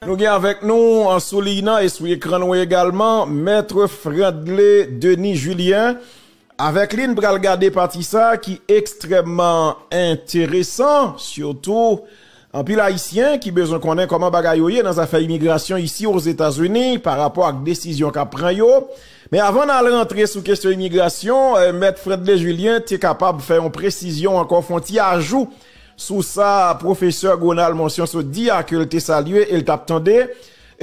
Nou gen avèk nou sou liy nan e sou ekran nou egalman Mètre Fredley Denis Julien Avèk li n pral gade pati sa ki ekstrèmman enteresan, sitou anpil Ayisyen ki bezwen konnen kòman bagay yo ye nan zafè imigrasyon isi Ozetazini pa rapò ak desizyon k ap pran yo. Men avan n al rantre sou kesyon imigrasyon, Mèt Fredley Julien te kapab fè yon presizyon ankò, fè yon ti ajou sou sa Pwofesè Gonal Monsion sot di a ke l te salye e l t ap tande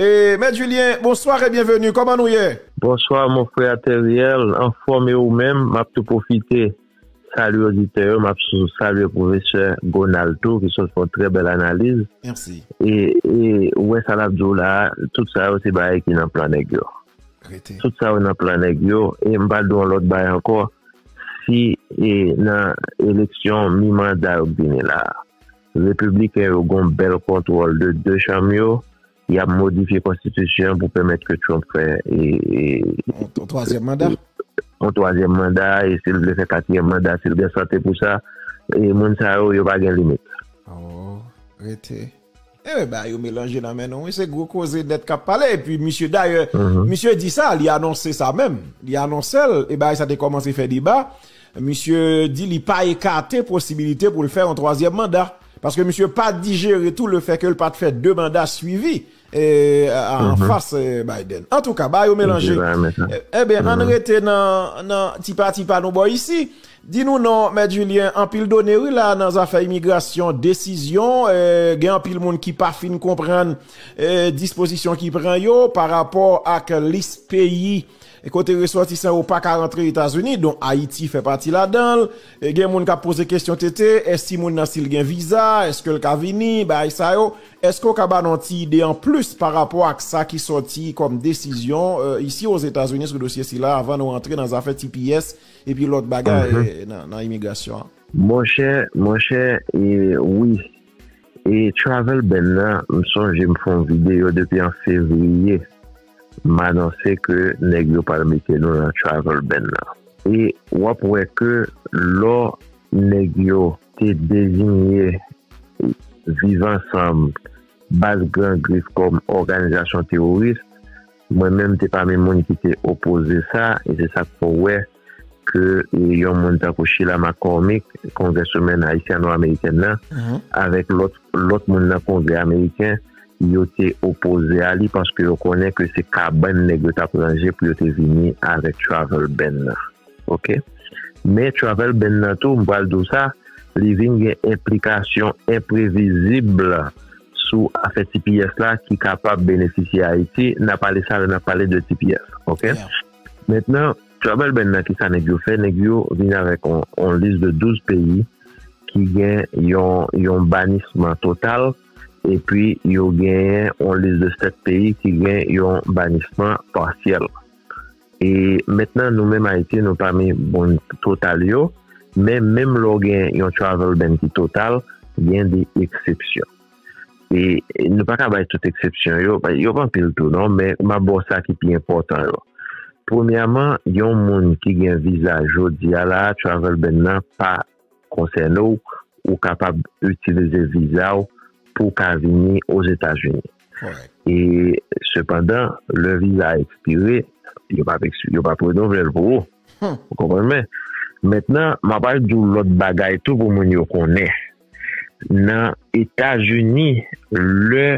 E Mèt Julien, bonsoir e bienvenue, kòman nou ye? Bonsoir mon frère Theriel, anfòm e ou menm? Map tou pwofite salye oditè yo, map salye pwofesè Gonald tou ki sot fè yon trè bèl analiz. Merci. E ou wè sa lap di w la a, tout sa yo se bagay ki nan plan nèg yo. Rete. Tout sa yo nan plan nèg yo e m pral di w yon lòt bagay ankò, si e nan eleksyon mi manda yo k vini la a, Repibliken yo gon bèl kontwòl de 2 chanm yo, yap modifye konstitisyon an pou pèmèt ke Trump fè yon twazyèm manda, yon twazyèm manda e sil vle fè katriyèm manda sil gen sante pou sa, e moun sa yo, yo pa gen limit. Aww rete Enben bagay yo melanje nan men nou wi se gwo koze nèt kap pale epi misye dayè misye di sa li anonse sa menm li anonsel e bagay sa te kòmanse fè deba. Misye di li pa ekate posibilite pou l fè yon twazyèm manda, paske misye pa dijere tou le fè ke l pat fè 2 manda swivi an fas Biden. Antouka, bagay yo melanje. Enben, ann rete nan ti pati pa nou bò isi. Di nou non, Mèt Julien, anpil done wi la nan zafè imigrasyon, desizyon, gen anpil moun ki pa fin konprann dispozisyon ki pran yo pa rapò ak lis peyi. E kote resòtisan yo pa ka rantre Etazini, don Ayiti fè pati ladan l. E gen moun k ap poze kesyon TT, e si moun nan si l gen viza, èske l ka vini, bagay sa yo. Èske ou ka ba nou yon ti ide an plis pa rapò ak sa ki sòti kòm desizyon isi o Zetazini sou dosye sila avan nou rantre nan zafè tps epi lòt bagay nan imigrasyon an? Monchè, monchè, wi. E travel ban nan, m sonje m fè yon videyo depi an fevriye. M anonse ke nèg yo pral mete nou nan travel ban nan. E w ap wè ke lò nèg yo te dezinye Viv Ansanm, Baz Gran Grif kòm òganizasyon teworis, mwen menm te pami moun ki te opoze sa e se sa k fè w wè ke yon moun tankou Sheila McCormick, kongreswomen ayisyano-amerikèn nan, avèk lòt moun nan kongrè ameriken, yo te opoze a li paske yo konnen ke se kabann nèg yo t ap ranje pou yo te vini avèk travel ban nan. Ok. Men travel ban nan tou, m pral di w sa, li vin gen enplikasyon enprevizib sou afè tps la ki kapab benefisye Ayiti. N ap ale sa lè n ap pale de tps. Ok. Mentnan travel ban nan kisa neg yo fè neg yo vin avek yon lis de 12 peyi ki gen yon yon banisman total epi yo genyen yon lis de 7 peyi ki gen yon banisman pasyèl e mentnan nou menm ayiti nou pami bon total yo men menm lè w gen yon travel ban ki total gen de eksepsyon. e nou pa ka bay tout eksepsyon yo, yo pa anpil tou non, men m ap ba w sa ki pi enpòtan yo. Premyèman, yon moun ki gen viza jodi a la a, travel ban nan pa konsène w, ou kapab itilize viza w pou w ka vini Ozetazini. E sepandan, lè viza a ekspire, yo p ap renouvle l pou ou. Ou konprann mwen? Mentnan, m ap al di w lòt bagay tou pou moun yo konnen. nan etazini lè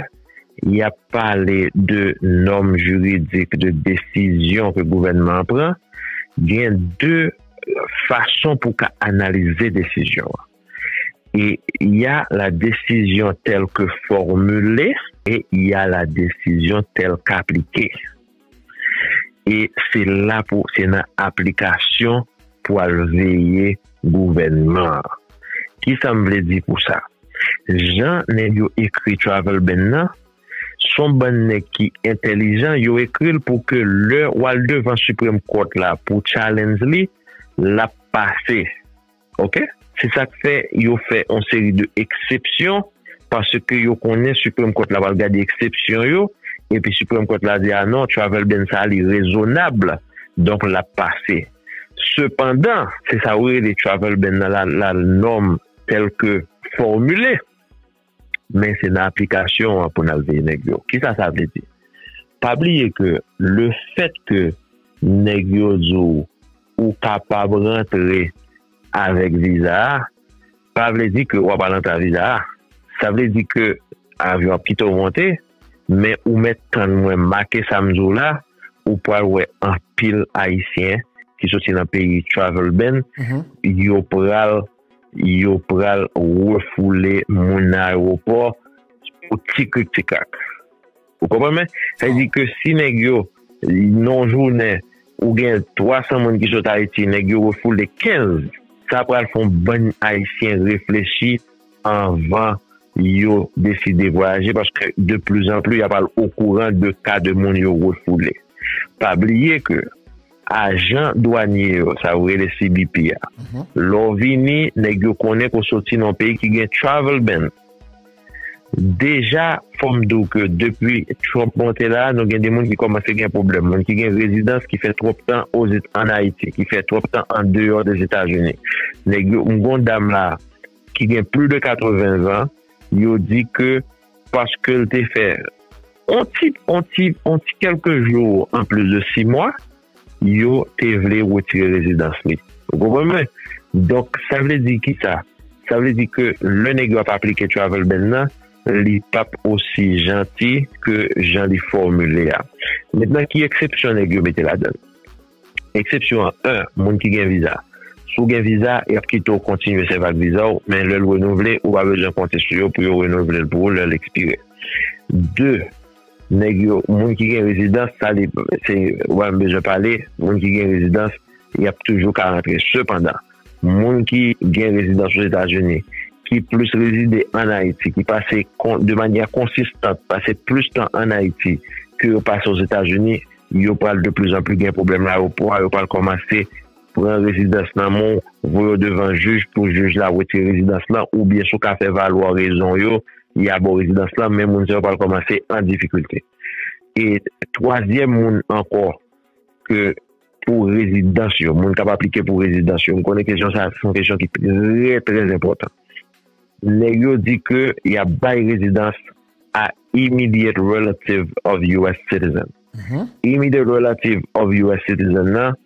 yap pale de nòm jiridik de desizyon ke gouvènman an pran gen de fason pou ka analize desizyon an e ya la desizyon tèlke fòmile e ya la desizyon tèlke aplike. E se la pou se nan aplikasyon pou al veye gouvènman an. Kisa m vle di pou sa? Jan nèg yo ekri Travel Ban nan, son bann nèg ki entèlijan, yo ekri l pou ke lè w al devan Supreme Court la pou challenge li, l ap pase. Ok. Se sa k fè yo fè yon seri de eksepsyon, paske yo konnen Supreme Court la pral gade eksepsyon yo, epi Supreme Court la di a non, travel ban sa a li rezonab, donk l ap pase. Sepandan, se sa yo rele travel ban nan la norme telle que formulée. Men se nan aplikasyon an pou n al veye nèg yo. Kisa sa vle di? Pa bliye ke le fèt ke nèg yo di w ou kapab rantre avèk viza a, pa vle di ke w ap al antre a viza a. Sa vle di ke avyon ap kite w monte, men ou mèt tann mwen make sa m di w la, ou pral wè anpil Ayisyen ki soti nan peyi travel ban, yo pral. yo pral refoule moun nan aewopò pou ti krik ti krak. Ou konprann mwen? Sa vle di ke si nèg yo nan yon jounen ou gen 300 moun ki sot Ayiti, nèg yo refoule 15, sa pral fè yon bann ayisyen reflechi anvan yo deside vwayaje paske de pli zan pli y ap al okouran de ka de moun yo refoule. Pa bliye ke. Ajan dwanye yo, sa yo rele CBP a, lè w vini, nèg yo konnen ke w soti nan yon peyi ki gen travel ban. Deja, fò m di w ke depi Trump monte la a, nou gen de moun ki kòmanse gen pwoblèm. Moun ki gen rezidans, ki fè twòp tan ann Ayiti, ki fè twòp tan an deyò Dezetazini. Nèg yo, m gen yon dam la a ki gen plis de 80 zan, yo di ke, paske l te fè on ti on ti on ti kèlke jou an plis de si mwa yo te vle retire rezidans li ou konprann mwen donk sa vle di ki sa sa vle di ke lè nèg yo ap aplike travel ban nan li p ap osi janti ke jan li fòmile a mètnan ki eksepsyon nèg yo mete ladan l. Eksepsyon 1, Moun ki gen viza. Si w gen viza, y ap kite w kontinye sèvi ak viza w, men lè l renouvle, ou pa bezwen konte sou yo pou yo renouvle l pou ou lè l ekspire. 2, Nèg yo, Moun ki gen rezidans, sa li, se, w pa menm bezwen pale, moun ki gen rezidans, y ap toujou ka rantre. Sepandan. Moun ki gen rezidans Ozetazini, ki plis rezide ann Ayiti, ki pase de manyè konsistant pase plis tan ann Ayiti ke yo pase Ozetazini, yo pral de pli zan pli gen pwoblèm nan ayewopò a, yo pral kòmanse pran rezidans nan men w, voye w devan jij pou jij la wetire rezidans lan oubyen si w ka fè valwa rezon yo, ya ba w rezidans lan, men moun sa yo pral kòmanse an difikilte. E twazyèm moun ankò ke. pou rezidans yo, moun kap aplike pou rezidans yo, m konnen kesyon sa se yon kesyon ki trè trè enpòtan. Nèg yo di ke y ap bay rezidans a immediate relative of US citizen. Immediate relative of US citizen nan,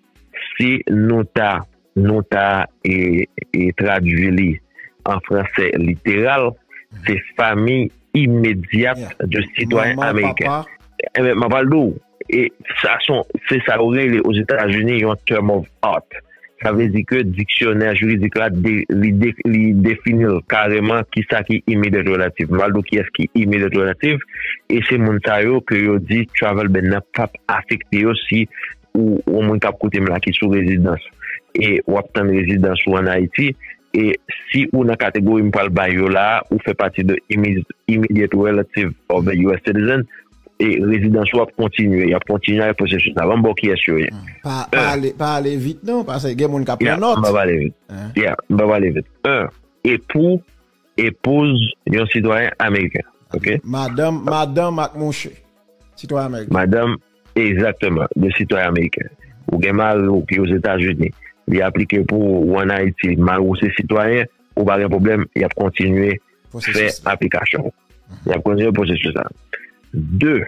si nou ta Nou ta tradui li an franse literal, se fanmi imedyat de sitwayen ameriken. Mwen pral di w, se sa yo rele ozetazini yon term of art. Sa vle di ke diksyonè jiridik la li defini l kareman ki sa ki imedyat relatif. Mwen pral di w kiyès ki imedyat relatif e se moun sa yo ke yo di travel ban nan p ap afekte yo si ou yon moun kap koute m la ki sou rezidans e wap tann rezidans ou an Ayiti e si ou nan kategori m pral bay yo la a, ou fè pati de immediate relative of a US citizen e rezidans ou ap kontinye, yap kontinye avèk pwosesis la. Banm ba w kiyès yo ye. Pa ale vit non, paske gen moun kap pran nòt. Ya, m pap ale vit. Ya, m pap ale vit. 1, Epou Epouz yon sitwayen ameriken. Ok. Madanm, madanm ak mouche. Sitwayen ameriken. Madanm, egzakteman, de sitwayen ameriken. Ou gen mari ou ki Ozetazini, li aplike pou ou, ou an Ayiti, mari ou se sitwayen, ou pa gen pwoblèm, y ap kontinye fè aplikasyon. Y ap kontinye pwosesis la. De.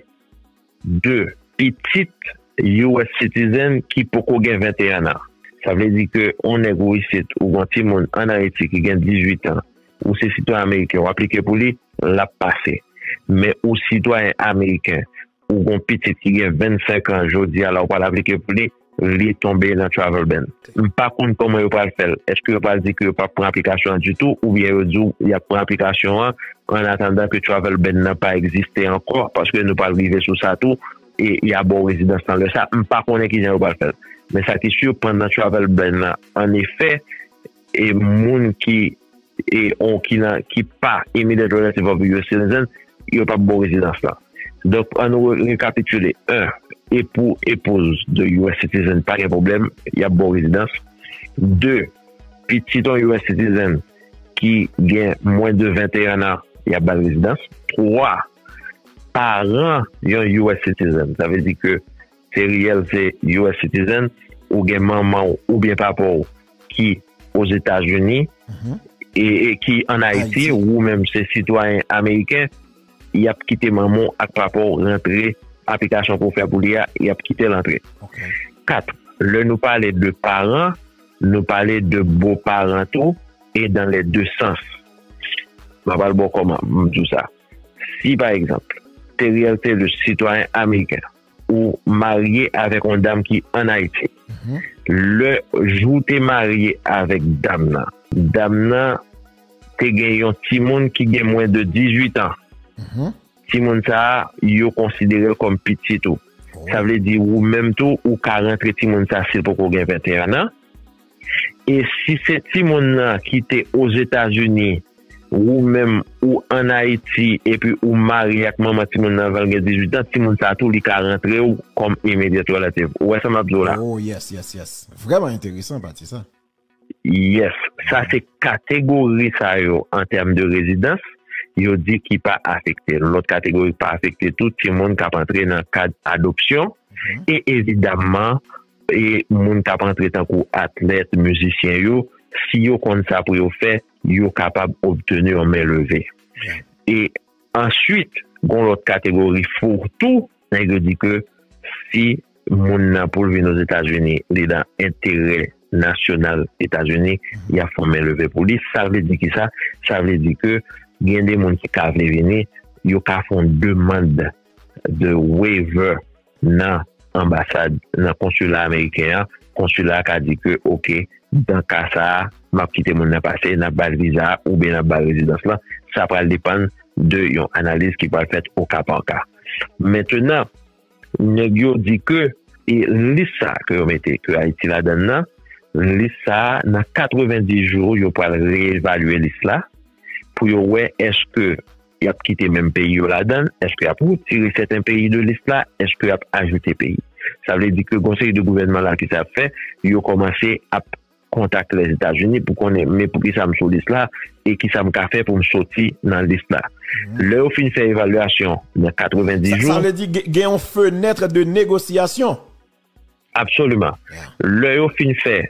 2, Pitit US citizen ki poko gen 21 an. Sa vle di ke yon nèg ou isit ou gen yon timoun an Ayiti ki gen 18 an, ou se sitwayen ameriken ou aplike pou li, l ap pase. Men ou sitwayen ameriken, ou gen yon pitit ki gen 25 an jodi a la ou pral aplike pou li, vle tonbe nan travel ban. M pa konn kòman yo pral fè l. Èske yo pral di ke yo pap pran aplikasyon an ditou oubyen yo di w y ap pran aplikasyon an an atandan ke travel ban nan pa egziste ankò paske nou pral rive sou sa tou e y a ba w rezidans nan lè sa. M pa konnen kijan yo pral fè l. Men sa ki sur pandan travel ban nan an efè E moun ki e on ki nan ki pa immediate relative of a US citizen, yo pap ba w rezidans lan. Donk an nou rekapitile, 1 epou, epouz de US citizen pa gen pwoblèm, yap ba w rezidans. 2 pitit on US citizen ki gen mwen de 21 an, yap ba l rezidans. 3 paran yon US citizen, sa vle di ke Se reyèl se US citizen, ou gen manman w oubyen papa w ki Ozetazini e ki an Ayiti, ou menm se sitwayen ameriken, y ap kite manman w ak papa w rantre, aplikasyon pou w fè pou li a, y ap kite l antre. 4, Lè nou pale de paran, nou pale de boparan tou e dan lè de sans. M ap al ba w kòman m di w sa. Si pa egzanp, Theriel Thelus, sitwayen ameriken, ou marye avèk yon dam ki an Ayiti, lè jou ou te marye avèk dam nan, dam nan te gen yon timoun ki gen mwen de 18 an, timoun sa a, yo konsidere l kòm pitit ou. Sa vle di ou menm tou, ou ka rantre timoun sa a si l poko gen 21 an. E si se timoun lan ki te Ozetazini, wou menm ou ann Ayiti epi ou marye ak manman timoun lan anvan l gen 18 an, timoun sa tou li ka rantre w kòm immediate relative. Ou wè sa m ap di w la? Oh yes, yes, yes. Vrèman enteresan pati sa. Yes. Sa se kategori sa yo an tèm de rezidans yo di ki pa afekte. Lòt kategori k pa afekte tou, timoun k ap antre nan kad adopsyon e evidamman E moun kap antre tankou atlèt, mizisyen yo, si yo konn sa pou yo fè, yo kapab obteni yon men leve. E answit, gon lòt kategori fou tou, nèg yo di ke si moun nan pou l vin Ozetazini, li nan enterè nasyonal Etazini, ya fè yon men leve pou li. Sa vle di ki sa? Sa vle di ke gen de moun ki ka vle vini, yo ka fè yon demand de waiver. nan anbasad nan konsila ameriken an konsila a ka di ke ok dan ka sa map kite moun nan pase nap bal viza oubyen nap bal rezidans lan sa pral depann de yon analiz ki pral fèt o ka pa ka mentenan nèg yo di ke e lis sa ke yo mete ke ayiti la dan nan lis sa nan 90 jou yo pral reevalye lis la pou yo wè eske Yap kite menm peyi yo ladan l? Eske yap retire sèten peyi de lis la? Eske yap ajoute peyi? Sa vle di ke gon seri de gouvènman la kisa yap fè? Yo kòmanse ap kontak Lèzetazini pou konnen men poukisa m sou lis la e kisa m ka fè pou m soti nan lis la. Lè yo fin fè evalyasyon nan 90 jou. Sa vle di gen yon fenètre de negosyasyon. Absoliman. Lè yo fin fè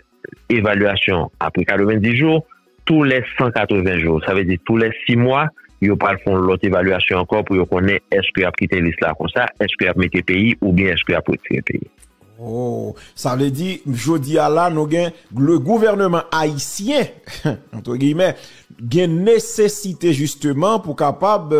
evalyasyon apre 90 jou, tou lè 180 jou, sa vle di tou lè 6 mwa, yo pral fè yon lòt evalyasyon ankò pou yo konnen èske y ap kite lis la konsa, èske y ap mete peyi oubyen èske y ap retire peyi. Oh! Sa vle di, jodi a la, nou gen le gouvèneman ayisyen, antre giyimè, gen nesesite jisteman pou kapab,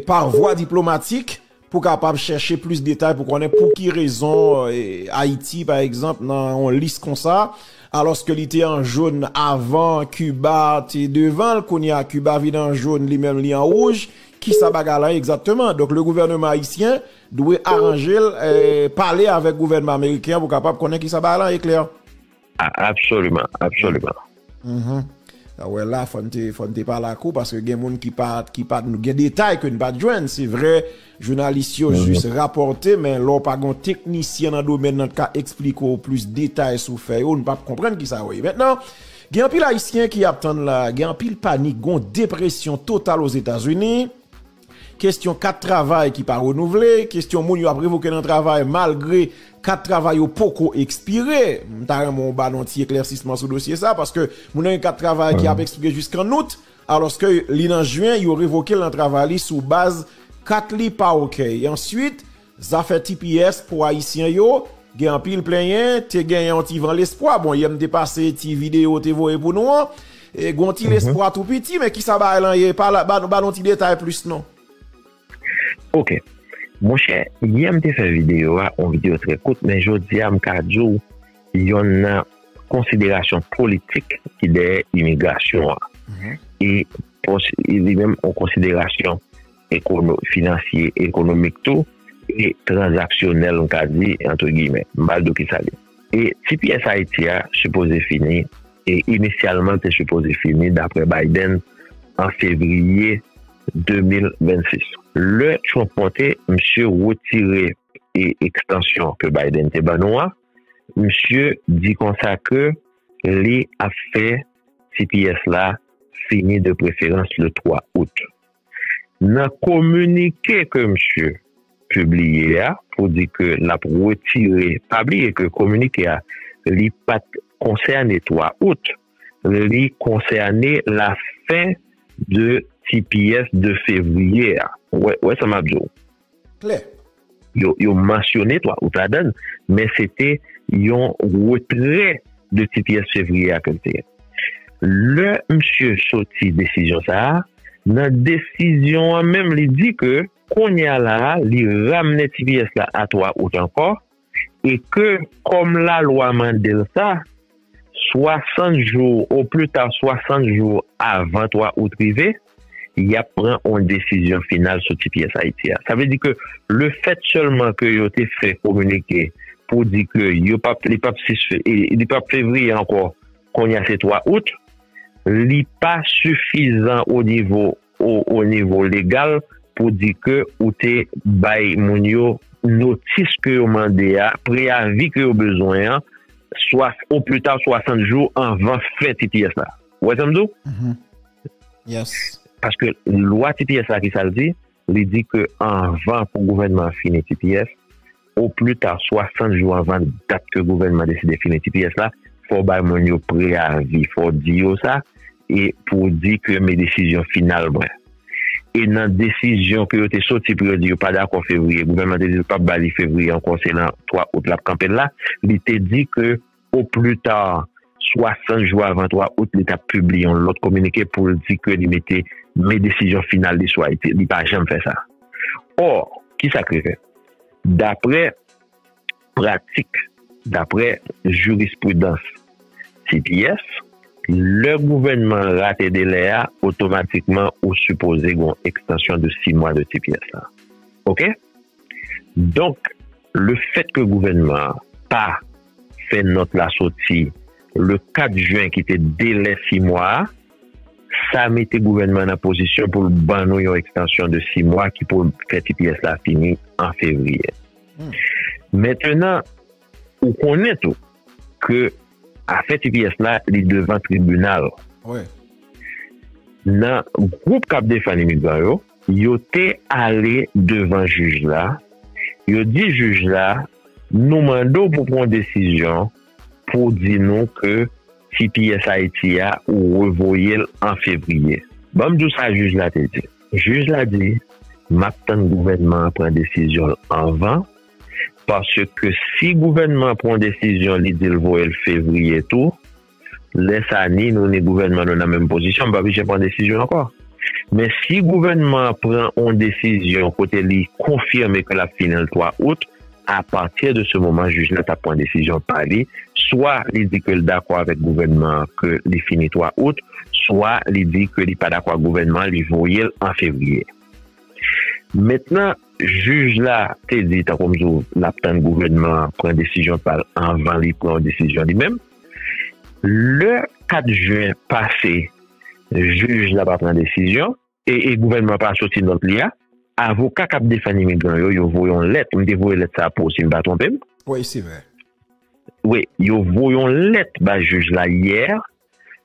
par vwa diplomatik, Pou kapab chèche plis detay pou konnen pou ki rezon Ayiti pa egzanp nan yon lis konsa, alòske li te an jòn avan Kiba te devan l, kounye a Kiba vin an jòn li menm li an wouj, ki sa bagay la ye egzakteman? Donk le gouvèneman ayisyen dwe aranje l, pale avèk gouvènman ameriken pou kapab konnen ki sa bagay la ye klè. A absoliman, absoliman. Mh. A wè la fò n te fò n te pale ak ou paske gen moun ki pa ki pa gen detay ke n pa t jwenn. Se vre jounalis yo jis rapòte men lè w pa gen yon teknisyen nan domèn nan ki ka esplike w plis detay sou fè yo, n pa p konprann ki sa wè. Mentnan gen anpil ayisyen ki ap tann la, gen anpil panik, gen yon depresyon total Ozetazini. Kestyon kat travay ki pa renouvle, kestyon moun yo ap revoke nan travay malgre kat travay yo poko ekspire. M ta renmen w ba nou yon ti eklèsisman sou dosye sa paske moun nan gen kat travay ki ap ekspire jiskan out alòske li nan jen yo revoke l nan travay li sou baz kat li pa ok. Answit Zafè tps pou ayisyen yo gen anpil plenyen, te gen yon ti van lespwa, bon yè m te pase ti videyo ou te voye pou nou an, gen yon ti lespwa tou piti, men kisa bagay lan ye, ba nou ti detay plis non. Ok, monchè yè m te fè videyo a, yon videyo trè kout, men jodi a m ka di w yon nan konsiderasyon politik ki dèyè imigrasyon an, e li menm yon konsiderasyon. finansye, ekonomik tou, e tranzaksyonèl m ka di, antre giymen. M pral di w kisa li. E tps Ayiti a sipoze fini, e inisyalman l te sipoze fini daprè Biden an fevriye 2026. Lè Trump monte, misye retire ekstansyon ke Biden te ban nou an, misye di konsa ke li ap fè tps la fini de preferans le 3 out. Nan kominike ke msye pibliye a pou di ke l ap retire, pa bliye ke kominike a li pa t konsène 3 out, li konsène la fen de tps de fevriye a. Ou wè sa m ap di w? klè. Yo mansyone 3 out ladan l, men se te yon retrè de ti pyès fevriye a ke l te gen. Lè misye soti desizyon sa a, nan desizyon an menm li di ke kounye a la a li ramne ti pyès la a 3 out ankò, e ke kòm lalwa mande l sa, 60 jou o pli ta 60 jou avan 3 out rive, y ap pran yon desizyon final sou tps Ayiti a. Sa vle di ke le fèt sèlman ke yo te fè kominike pou di ke yo p ap li p ap 6 li p ap fevriye ankò, kounye a se 3 out, li pa sifizan o nivo. o nivo legal pou di ke ou te bay moun yo notis ke yo mande a, preyavi ke yo bezwen an, swa o pli ta 60 jou anvan fen tps la. Ou wè sa m di w? Yes. Paske lwa tps la ki sa l di? Li di ke anvan pou gouvènman an fini tps, O pli ta 60 jou anvan dat ke gouvènman deside fini tps la, fò w bay moun yo preyavi, fò w di yo sa, e pou w di ke men desizyon final mwen. E nan desizyon ke yo te soti pou yo di yo pa dakò fevriye, gouvènman te di l pap ba li fevriye ankò se nan 3 out lap kanpe l la, li te di ke. O pli ta 60 jou avan 3 out li ta pibliye yon lòt kominike pou l di ke li mete men desizyon final li sou Ayiti. Li pa janm fè sa. Ò, ki sa k rive? Dapre pratik, dapre jirispridans tps, lè gouvènman an rate delè a, otomatikman ou sipoze gen yon ekstansyon de 6 mwa de tps la. Oke? Donk, lefèt ke gouvènman an pa. Fen nòt la soti le 4 jen ki te delè si mwa a. Sa mete gouvènman an nan pozisyon pou l ban nou yon ekstansyon de si mwa ki pou fè tps la fini an fevriye. Mentenan, ou konnen tou ke afè tps la li devan tribinal. Nan gwoup k ap defann imigran yo. Yo te ale devan jij la, yo di jij la, Nou mande w pou pran yon desizyon pou w di nou ke tps Ayiti a ou revoye l an fevriye. Ban m di w sa jij la te di. Jij la di, M ap tann gouvènman an pran desizyon l anvan, paske si gouvènman an pran yon desizyon li di l voye l fevriye tou, lè sa ni nou ni gouvènman nou nan menm pozisyon m pa oblije pran desizyon ankò men si gouvènman an pran yon desizyon kote li konfime ke l ap fini l 3 out apati de se moman jij la ta pran desizyon pa li swa li di ke l dakò avèk gouvènman an ke li fini 3 out swa li di ke li pa dakò ak gouvènman an li voye l an fevriye mentnan jij la te di tankou m di w l ap tann gouvènman an pran desizyon pa l anvan li pran yon desizyon li menm. Lè 4 jen pase jij la pa pran desizyon e gouvènman pa soti nòt li a, avoka k ap defann imigran yo, yo voye yon lèt, m te voye lèt sa a pou w si m pa twonpe m. Wi, se vre. Wi, yo voye yon lèt bay jij la yè,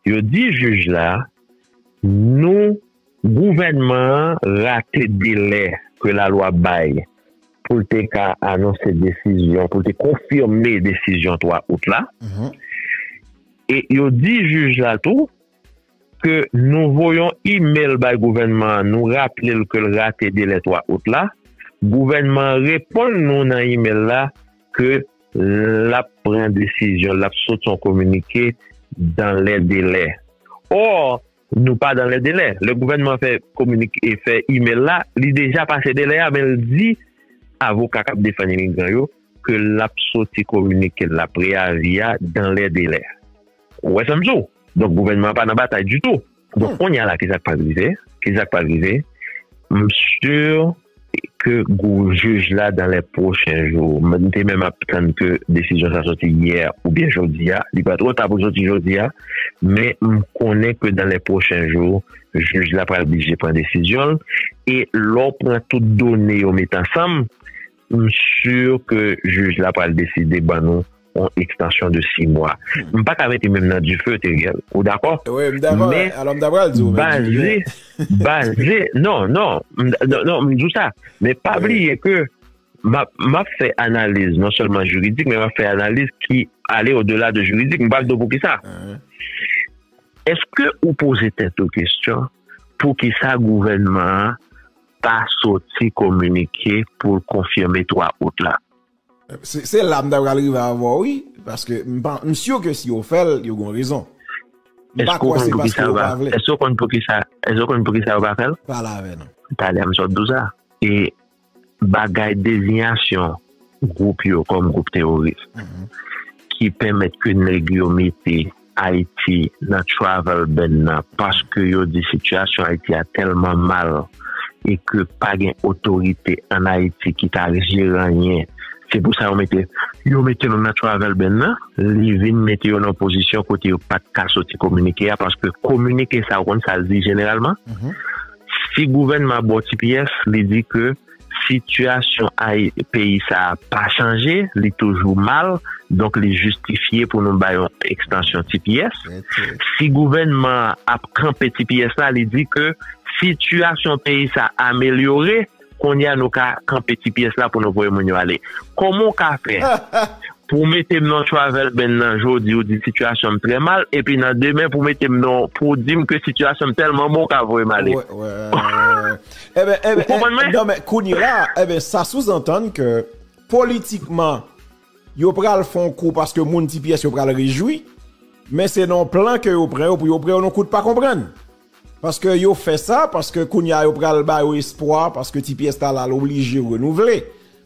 yo di jij la nou. Gouvènman an rate delè ke lalwa bay pou l te ka anonse desizyon, pou l te konfime desizyon 3 out la. E yo di jij la tou ke nou voyon imel bay gouvènman an, nou raple l ke l rate delè 3 out la. Gouvènman an reponn nou nan imel la ke l ap pran desizyon, l ap soti yon kominike dan lè delè. Or, Nou pa dan lè delè. Lè gouvènman fè kominike, fè imel la, li deja pase delè a men l di avoka k ap defann imigran yo ke l ap soti kominike l la, preyavi a, dan lè delè. Ou wè sa m di w? Donk gouvènman an pa nan batay ditou. Donk kounye a la ki sa k pral rive? Ki sa k pral rive? M sur. ke gwo jij la dan lè pwochen jou. M te menm ap tann ke desizyon sa soti yè oubyen jodi a. Li pa twò ta pou l soti jodi a, men m konnen ke dan lè pwochen jou, jij la pral blije pran desizyon l. E lè w pran tout done yo met ansanm, m si ke jij la pral deside ban nou. on extension de 6 mwa m pa ka mete menm nan dife Theriel ou dakò wi m dakò alò m ta pral di w baze baze non non non m di w sa men pa bliye ke m ap m ap fè analiz non sèlman jiridik men m ap fè analiz ki ale o dela de jiridik m pral di w pou ki sa eske ou poze tèt ou kesyon pou ki sa gouvènman an pa soti kominike pou l konfime 3 out la Se la m ta pral rive avè w wi, paske m sur ke si yo fè l, yo gon rezon. M pa kwè se paske yo pa vle. Èske w konn poukisa, èske w konn poukisa yo pa fè l? Pale avè nou. Talè m sot di w sa. E bagay dezinyasyon gwoup yo kòm gwoup teworis ki pèmèt ke nèg yo mete. Ayiti nan travel ban nan paske yo di sitiyasyon Ayiti a tèlman mal e ke pa gen otorite an Ayiti ki ka jere anyen se pou sa yo mete yo mete nou nan travel ban nan li vin mete yo nan yon pozisyon kote yo pat ka soti kominike a paske kominike sa ou konn sa l di jeneralman si gouvènman a ba w ti pyès li di ke Sitiyasyon peyi sa a pa chanje, li toujou mal, donk li jistifye pou nou bay yon ekstansyon tps. Si gouvènman an ap kanpe tps la, li di ke sitiyasyon peyi sa a amelyore, kounye a nou ka kanpe tps la pou nou voye moun yo ale. Kòman ou ka fè pou w mete m nan yon travel ban nan jodi ou di sitiyasyon m trè mal, epi nan demen pou w mete m nan, pou w di m ke sitiyasyon m tèlman bon ou ka voye m ale? Eben, eh ben, eh, non men, kounye la, eh ben, sa souzantann ke politikman yo pral fon kou paske moun ti pyès yo pral rejwi, men se non plan ke yo pran yo pou yo pran yo non kout pa konprann. Paske yo fè sa, paske kounye a yo pral ba yo espwa, paske ti pyès ta la l'oblije renouvle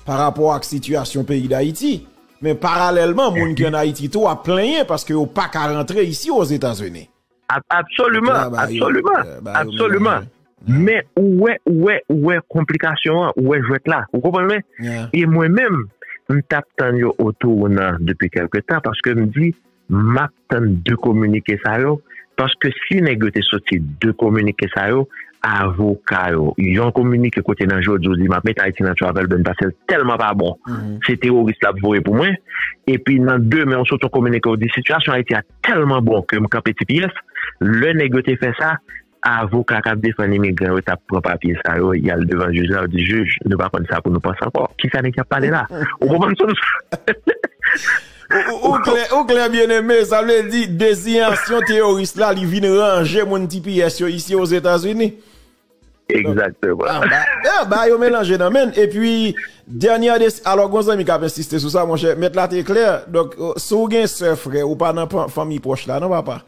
pa rapò ak sitiyasyon peyi d'Ayiti. Men paralèlman, moun ki an Ayiti tou ap plenyen paske yo pa ka rantre isi o Zetazenis. Absoliman, absoliman, absoliman, men ou wè, ou wè, ou wè konplikasyon an, ou wè jwèt la, ou konprann mwen? E mwen menm, m t ap tann yo otou ou nan depi kèlke tan, paske m di, m ap tann de kominike sa yo, paske si nèg yo te soti de kominike sa yo, avoka yo, yon kominike kote nan jodi ou di m ap met Ayiti nan travel ban pase l tèlman pa bon, se teworis l ap voye pou mwen, epi nan demen ou soti yon kominike ou di sitiyasyon Ayiti a. tèlman bon ke m kanpe ti pyès, lè nèg yo te fè sa, avoka k ap defann imigran yo t ap pran papye sa yo, y al devan jij la, yo di jij, nou pa konn sa pou nou panse ankò. Ki sa nèg y ap pale la? Ou konprann sa m fè? Ou klè byeneme, sa vle di deziyasyon teyoris la li vin ranje moun ti pyès yo isi Ozetazini. Exactement. Bagay yo melanje nan menn e pi dènyè de alò gon zanmi kap ensiste sou sa monchè mèt la te klè donk si w gen sè frè ou pa nan fanmi pwòch la non papa.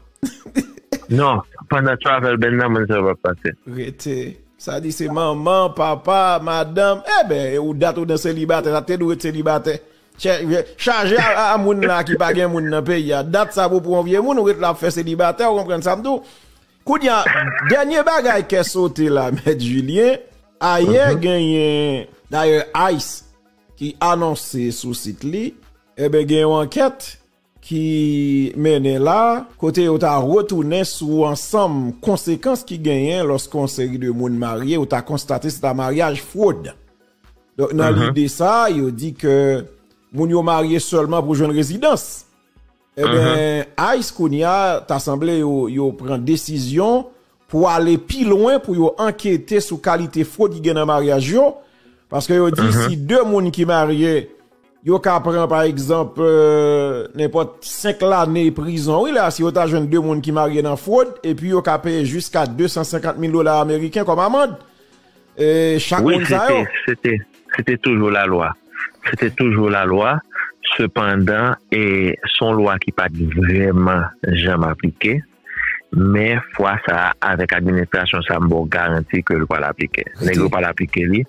Non pandan travel ban nan moun sa yo pap pase. Rete. Sa di se manman, papa, madanm eben ou dat ou nan selibatè sa te dwe ret selibatè. Chaje a moun la ki pa gen moun nan peyi a dat sa pou pran yon vye moun ou ret la ap fè selibatè ou konprann sa m di w. Kounya dènye bagay kè sote la mèt Julien, ayè genyen dayè ice ki anonse sou sit li eben gen yon ankèt ki mennen la kote yo ta retounen sou ansanm konsekans ki genyen lòske yon seri de moun marye yo ta konstate se ta maryaj fwod. Donk nan lide sa yo di ke moun yo marye sèlman pou jwenn rezidans. Enben, ice kounya ta sanble yo pran desizyon pou ale pi lwen pou yo ankete sou kalite fwod ki gen nan maryaj yo, paske yo di si 2 moun ki marye yo ka pran pa egzanp nenpòt 5 lane prizon wi la si yo ta jwenn 2 moun ki marye nan fwod epi yo ka peye jiska 250 mil dola ameriken kòm amand. chak moun sa yo? Wi, se te toujou lalwa. Se te toujou lalwa. Sepandan, se yon lwa ki pa t vrèman janm aplike. Men, fwa sa a, avèk administrasyon sa a, m ba w garanti ke l pral aplike. Nèg yo pral aplike li.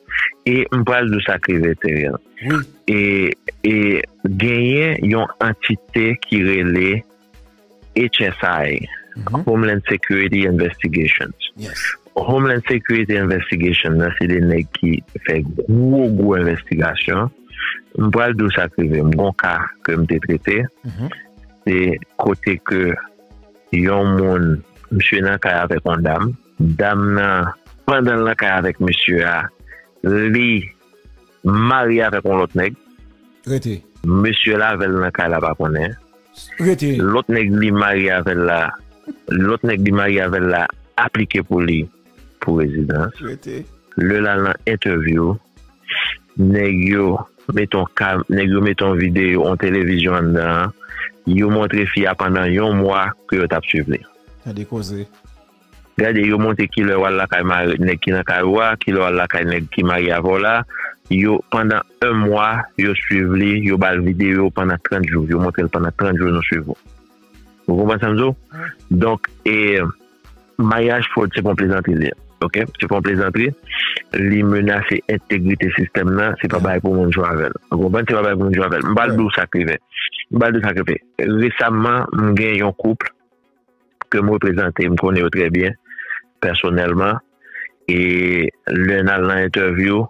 E m pral di w sa k rive, Theriel. Genyen yon antite ki rele. HSI, Homeland Security Investigations. Homeland Security Investigations nan se de nèg ki fè gwo gwo investigasyon. M pral dou sa krive m bon ka ke m te trete. Mhm. Se kote ke yon moun, msye nan kay avèk yon dam, dam nan, pandan l nan kay avèk msye a, li Marye avek yon lot neg. Rete. Mesye la avel nan kay la pa konnen. Rete. Lot neg li marye avel la lot neg li marye avel la aplike pou li pou rezidans. Rete. Le lal nan entevyou neg yo met yon kam neg yo met yon video yon televizyon andan yo montre fi a pandan yon mwa ke yo tap swiv li. Tande koze. Gade yo monte kilè wal lakay mari nèg ki nan kay ou a kilè wal lakay nèg ki marye avèw la yo pandan 1 mwa yo swiv li yo bal video pandan 30 jou yo montrel pandan 30 jou nou swiv ou ou konprann sam diw donk e maryaj fòd se pon plezantri li ye ok se pon plezantri li menase entegrite sistèm nan se pa bay pou moun jwe avèl ou konprann se pa bay pou moun jwe avèl m pral diw sak rive m pral diw sak rive resamman m gen yon kouple. ke m reprezante, m konnen yo trè byen pèsonèlman e lè n al nan entèvyou,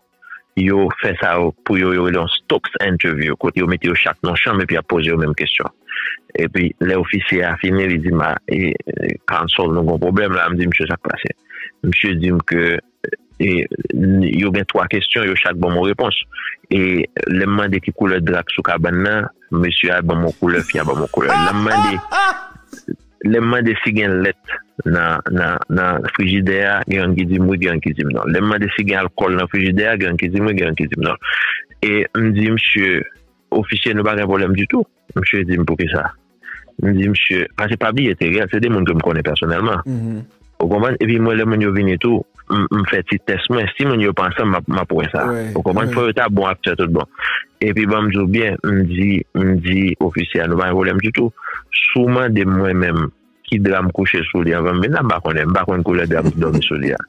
yo fè sa pou yo yo rele yon Stokes Interview kote yo mete yo chak nan yon chanm epi y ap poze yo menm kesyon. Epi lè ofisye a fini li di m, a, Counsel nou gen yon pwoblèm la, m di misye sa k pase? Misye di m ke. E yo gen 3 kesyon, yo chak ban mwen repons. E lè m mande ki koulè dra k sou kabann nan, mesye a ban mwen koulè, fi a ban mwen koulè. Lè m mande, lè m mande si gen lèt nan, nan, nan frijidè a, gen youn ki di m wi, gen youn ki di m non. Lè m mande si gen alkòl nan frijidè a, gen youn ki di m wi, gen youn ki di m non. E m di msye, Ofisye nou pa gen pwoblèm ditou. Msye di m poukisa. M di msye, pase pa biye Teriel, se de moun ke m konnen pèsonèlman. Ou konprann? Epi mwen lè moun yo vini tou, m fè ti tès mwen. Si moun yo pa ansanm, m ap wè sa. Ou konprann? Fò yo ta bon aktè tout bon. Epi ban m di w byen, m di, m di ofisye a nou pa gen pwoblèm ditou. Si w mande m mwen menm. ki dra m kouche sou li anvan m vin la, m pa konnen. M pa konn koulè dra m te dòmi sou li a.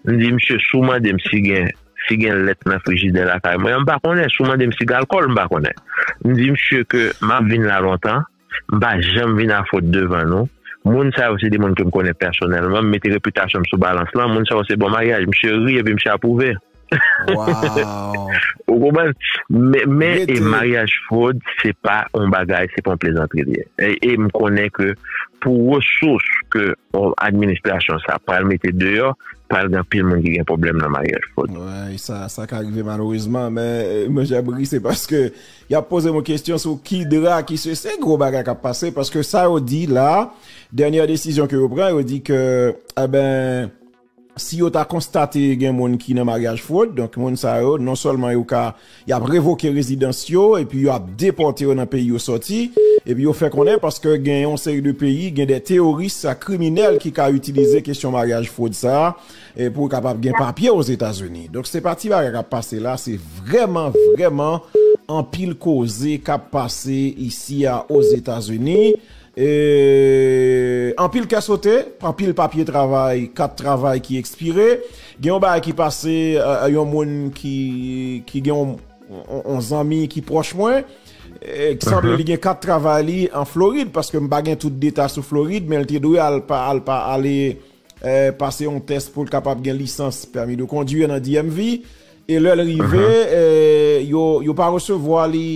M di misye, si w mande m si gen si gen lèt nan frijidè lakay mwen an, m pa konnen. Si w mande m si gen alkòl, m pa konnen. M di misye ke m ap vin la lontan, m pa janm vin a fot devan nou. Moun sa yo se de moun ke m konnen pèsonèlman. M mete repitasyon m sou balans lan. Moun sa yo se bon maryaj. Misye ri epi misye apwouve. Ou konprann? Men e maryaj fwod se pa yon bagay, se pa yon plezantri li ye. E m konnen ke pou resous ke administrasyon sa pral mete deyò, pral gen anpil moun ki gen pwoblèm nan maryaj fwod. Wi, sa ka rive malerezman. Men mwen jan m ri se paske y ap poze m yon kesyon sou ki dra, ki se se gwo bagay k ap pase. Paske sa yo di la, dènyè desizyon ke yo pran, yo di ke, enben, Si yo ta konstate gen moun ki nan maryaj fwod, donk moun sa yo non sèlman yo ka y ap revoke rezidans yo epi yo ap depòte yo nan peyi yo sòti. Epi yo fè konnen paske gen yon seri de peyi gen de teworis ak kriminèl ki ka itilize kesyon maryaj fwod sa pou yo kapab gen papye Ozetazini. Donk se pa ti bagay k ap pase la, se vrèman vrèman anpil koze k ap pase isi a Ozetazini. E anpil kè sote, anpil papye travay, kat travay ki ekspire. Gen yon bagay ki pase yon moun ki gen yon zanmi ki pwòch mwen. Ki sanble li gen kat travay li an Florid, paske m pa gen tout deta sou Florid, men li te dwe al ale pase yon tès pou l kapab gen lisans pèmi de kondwir nan DMV e lè l rive yo pa resevwa li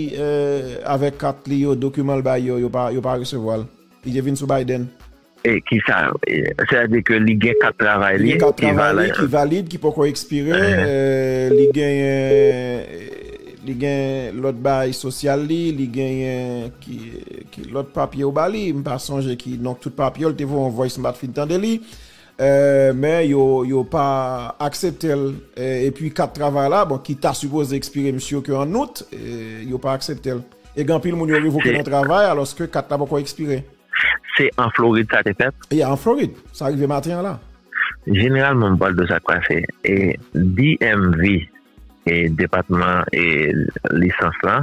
avèk kat li yo dokiman l bay yo yo pa resevwa l li te vin sou Biden e ki sa se a di ke li gen kat travay li ki valid ki poko ekspire li genyen. Li gen lòt baay sosyal li, li genyen ki ki lòt papye yo ba li, m pa sonje ki non tout papye yo, li te voye yon voice m pat fin tande li men yo yo pa aksepte l epi kat travay la bon ki ta sipoze ekspire m sur ke an out yo pa aksepte l e gen anpil moun yo revoke nan travay alòske kat la poko ekspire. Se an Florid sa te fèt? Ya an Florid, sa rive maten an la. Jeneralman m pa wè sa k pase e DMV. e depatman e lisans la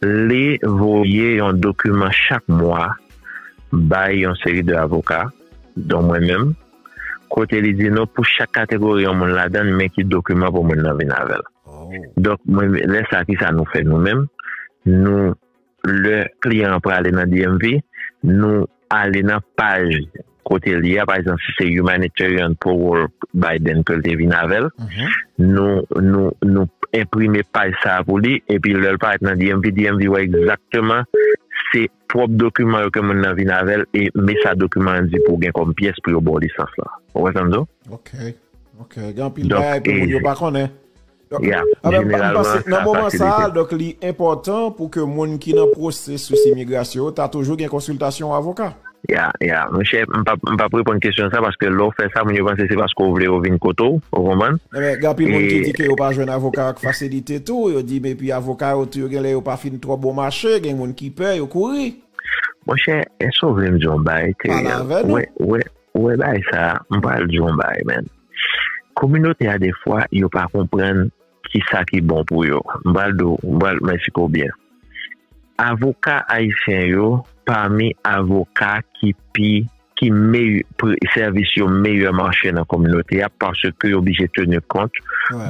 li voye yon dokiman chak mwa bay yon seri de avoka don mwen menm kote li di nou pou chak kategori yon moun ladan men ki dokiman pou moun nan vin avèl donk mwen lè sa ki sa nou fè nou menm nou Lè kliyan an prale nan DMV, nou ale nan paj kote li a, pa egzanp si se Humanitarian Parole Biden ke l te vin avè l, nou enprime paj sa a pou li, epi lè l parèt nan DMV, DMV wè egzakteman se pwòp dokiman yo ke moun nan vin avè l, e men sa dokiman an di pou gen kòm pyès pou yo ba w lisans lan. Ou konprann sa? Ok, ok. Gen anpil bagay ke moun yo pa konnen. M panse nan moman sa a, donk li enpòtan pou ke moun ki nan pwosesis imigrasyon yo ta toujou gen konsiltasyon yon avoka. Ya, ya. Monchè, m pa, m pap reponn kesyon sa, paske lè w fè sa, moun yo panse se paske w vle yo vin kote w, ou konprann? Nan men, gen anpil moun ki di ke yo pa jwenn avoka ak fasilite tou, yo di men epi avoka yo tou yo gen lè yo pa fin twò bon mache, gen moun ki pè, yo kouri. Monchè, èske w vle m di w yon bagay ke, wè, wè. Ou wè bagay sa m pral di w yon bagay man kominote a defwa yo pa konprann kisa ki bon pou yo m pral di w m pral mwen esplike w byen avoka ayisyen yo pami avoka ki pi ki meyè sèvis yo meyè mache nan kominote a paske yo blije teni kont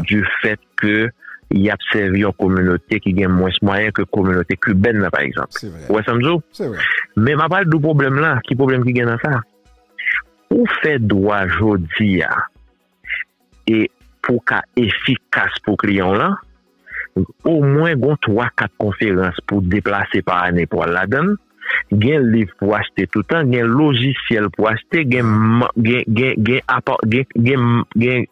di fèt ke y ap sèvi yon kominote ki gen mwens mwayen ke kominote kibèn nan pa egzanp. Se vre. Ou wè sa m di w? Se vre. Men m ap pral di w pwoblèm lan, ki pwoblèm ki gen nan sa. Pou w fè dwa jodi a e pou w ka efikas pou kliyan w lan, omwen gon twa kat konferans pou w deplase pa ane pou w al ladan l, gen liv pou w achte toutan, gen lojisyèl pou w achte, gen, gen, gen, gen apa, gen, gen, gen.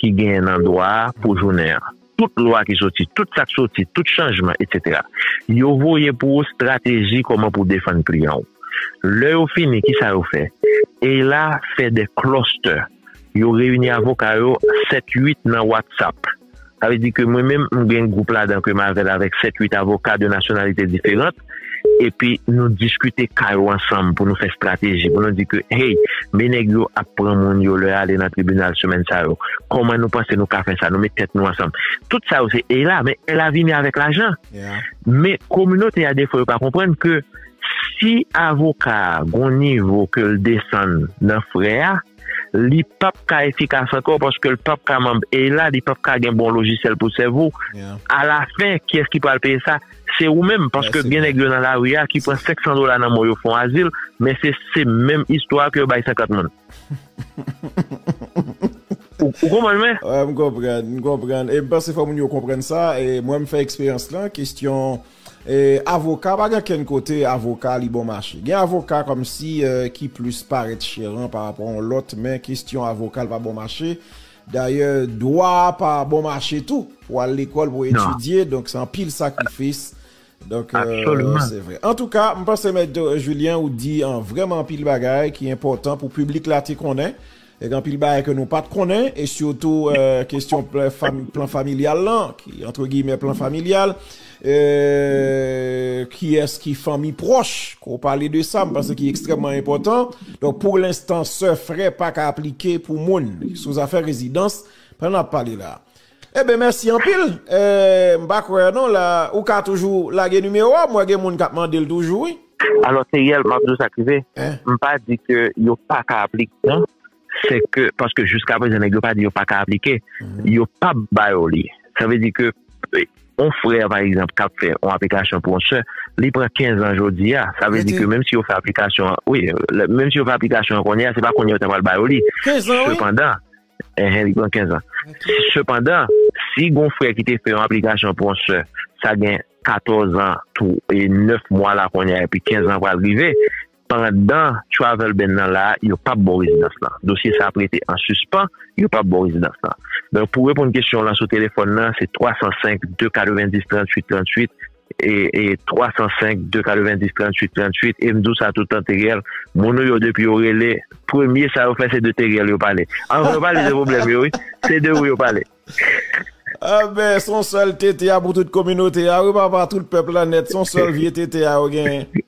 ki genyen nan dwa a pou jounen an. Tout lwa ki soti, tout sa k soti, tout chanjman, etsetera. Yo voye pou ou strateji kòman pou w defann kliyan w. Lè yo fini, kisa yo fè? EILA fè de klòstè. Yo reyini avoka yo sèt, uit nan WhatsApp. Sa vle di ke mwen menm, m gen gwoup ladan ke m avè l avèk sèt, uit avoka de nasyonalite diferan. epi nou diskite ka yo ansanm pou nou fè strateji pou nou di ke hey men nèg yo ap pran moun yo lè ale nan tribinal semèn sa yo kòman nou panse nou ka fè sa nou met tèt nou ansanm tout sa yo se ey la men ey la vini avèk lajan men kominote a defo yo pa konprann ke si avoka gon nivo ke l desann nan frè a li pap ka efikas ankò paske l pap ka manb ey la li pap ka gen bon lojisèl pou sèvo a la fen kiyès ki pral peye sa. Se ou menm, paske gen nèg yo nan lari a ki pran 500 dola nan men w yo fon azil, men se se menm istwa ke yo bay 50 moun. Ou konprann mwen? Wè m konprann, m konprann. E m panse fò moun yo konprann sa, e mwen m fè eksperyans lan, kestyon avoka pa gen kenn kote avoka li bon mache. Gen avoka kòmsi ki plis parèt chèran pa rapò yon lòt, men kestyon avoka l pa bon mache. Dayè dwa a pa bon mache tou pou al lekòl pou etidye donk se anpil sakrifis donk se vre. Antouka m panse mèt Julien ou di vrèman anpil bagay ki enpòtan pou piblik la te konnen e gen anpil bagay ke nou pat konnen e sitou kesyon plan familyal lan ki antre giymen plan familyal. Euh kiyès ki fanmi pwòch ke w pale de sa m panse ki ekstrèmman enpòtan. Donk pou lenstan sè, frè pa ka aplike pou moun sou zafè rezidans pandan n ap pale la. Eben mèsi anpil m pa kwè an non la ou ka toujou lage nimewo a m wè gen moun k ap mande l toujou wi. Alò Theriel m ap di w sa k rive m pa di ke yo pa ka aplike non. se ke paske jiska prezan nèg yo pa di yo paka aplike yo pap ba yo li sa vle di ke yon frè pa egzanp kap fè yon aplikasyon pou yon sè li pran 15 an jodi a sa vle di ke menm si yo fè aplikasyon an wi menm si yo fè aplikasyon an kounye a se pa kounye a yo ta pral ba yo li sepandan enhen li pran 15 an sepandan si gon frè ki te fè yon aplikasyon pou yon sè sa gen 14 an tou e 9 mwa la kounye a epi 15 an pral rive Pandan travel ban nan la, yo pap ba w rezidans lan. Dosye sa ap rete an sispan, yo pap ba w rezidans lan. Donk pou w reponn kesyon w lan sou telefòn lan, se 305 290 38 38 e e 305 290 38 38 e m di w sa toutan Theriel, moun ou yo depi yo rele, premye sa yo fè se de Theriel yo pale. Anvan yo pale de pwoblèm yo wi, se de ou yo pale. Anben, s on sèl TT a pou tout kominote a wi papa, tout pèp la nèt, s on sèl vye TT a yo genyen.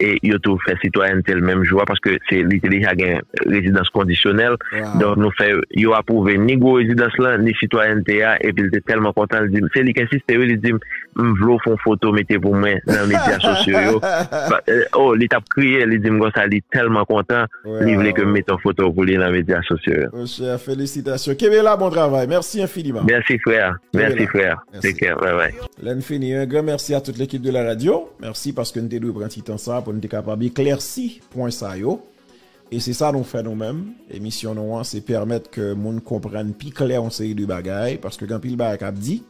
e yo tou fè sitwayènte l menm jou a paske se li te deja gen rezidans kondisyonèl donk nou fè yo apwouve ni gwo rezidans lan ni sitwayènte a epi l te tèlman kontan l di m se li k ensiste wi li di m m vle w fè yon foto mete pou mwen nan medya sosyo yo o li t ap kriye li di m konsa li tèlman kontan li vle ke m mete yon foto pou li nan medya sosyo yo. Monchè felisitasyon kenbe la bon travay mèsi enfiniman. Mèsi frè mèsi frè take care bye bye. Lè n fini un grand merci à toute l'équipe de la radio. Mèsi paske n te dwe pran ti tan sa pou n te kapab eklèsi pwen sa yo. E se sa nou fè nou menm. Emisyon nou an se pèmèt ke moun konprann pi klè yon seri de bagay paske gen anpil bagay k ap di.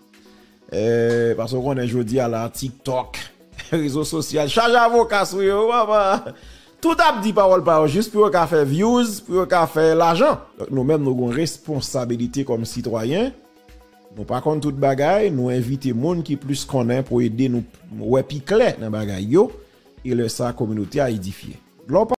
Paske ou konnen jodi a la tiktok, rezo sosyal chaje avoka sou yo. Tout ap di pawòl pa yo jis pou yo ka fè vyouz, pou yo ka fè lajan. Donk nou menm nou gen yon responsabilite kòm sitwayen. Nou pa konn tout bagay, nou envite moun ki plis konnen pou ede nou wè pi klè nan bagay yo, e lè sa kominote a edifye.